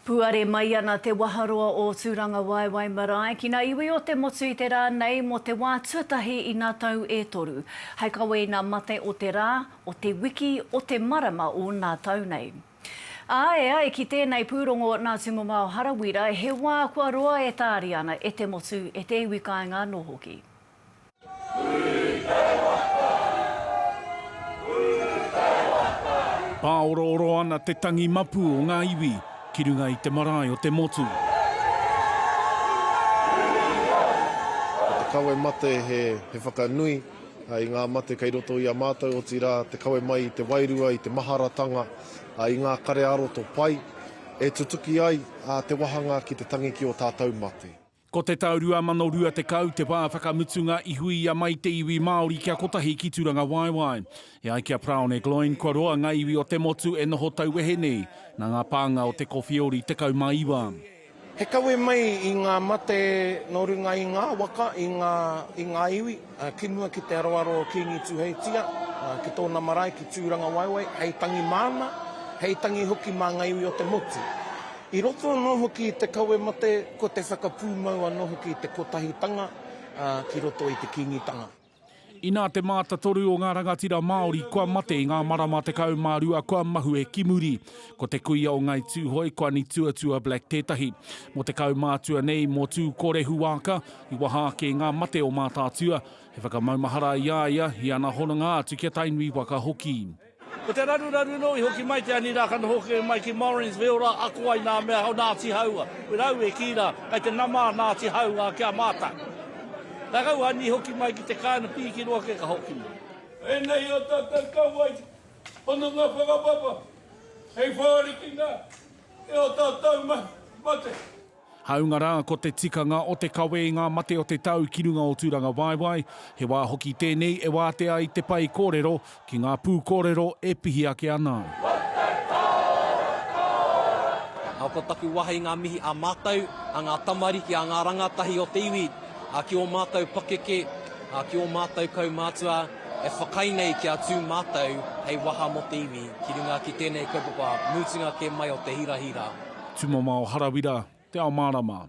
Puare mai ana te waharoa o Tūrangawaewae marae ki ngā iwi o te motu i te rā nei mō te wā tuatahi i ngā tau e toru, hai kawe i ngā mate o te rā, o te wiki, o te marama o nā tau nei. Ā, e ai ki tēnei pūrongo nā Tūmamao Harawira, he wā kua roa e tāriana e te motu, e te iwi kāinga anō hoki. Pāorooro ana te tangi mapu o ngā iwi ki runga i te marae o te motu. Ko te kawe mate he whakanui i ngā mate kei roto i a mātou, otirā te kawe mai i te wairua, i te maharatanga, i ngā kare ā-roto pai, e tutuki ai te wahanga ki te tangi ki ō tātou mate. Ko te tau 2020 te wā whakamutunga i huia mai te iwi Māori kia kotahi ki Turangawaewae. E ai ki a Praone Gloyne kua roa ngā iwi o te motu e noho tauwehe nei, nā ngā pānga o te Kowheori 19. He kawe mai i ngā mate nō runga i ngā waka, i ngā iwi. Ki mua ki te aroaro o Kīngi Tuheitia, ki tōna marae ki Tūrangawaewae, hei tangi māna, hei tangi hoki mā ngā iwi o te motu. I roto anō hoki i te kawe mate, ko te whakapūmau anō hoki i te kotahitanga ki roto i te Kīngitanga. Inā te mātatoru o ngā rangatira Māori kua mate i ngā marama tekau mā rua kua mahue ki muri. Ko te kuia o Ngāi Tūhoe, Kuani Tuatua Black tētahi. Mō te kaumātua nei, mō Tūkorehuwāka, I waha ake i ngā mate o Mātaatua, he whakamaumahara i a ia, i ana hononga atu ki a Tainui waka hoki. Ko te raruraru nō i hoki mai te ani rā ka noho hoki mai ki Morins me ora ako ai nā mea o Nāti Haua. Ko rāua e kī rā, kei te nama a Nāti Haua ki a mātou. Ka kau ani i hoki mai ki te kāinga pīkiro ake ka hoki mai. Ēnei ō tātou kauae hononga whakapapa hei whārikina i ō tātou mahi mate. Hāunga rā, ko te tikanga o te kawe i ngā mate o te tau ki runga o Tūrangawaewae, he wā hoki tēnei e wātea ai te pae kōrero ki ngā pūkōrero e pihi ake ana au. Nā, ko taku waha i ngā mihi a mātou, a ngā tamariki, a ngā rangatahi o te iwi, ki ō mātou pakeke, Ā, ki ō mātou kaumātua e whakaae nei kia tū mātou hei waha mō te iwi ki runga ki tēnei kaupapa mutunga kē mai o te hirahira. Tumamao Harawira, Te Ao Mārama.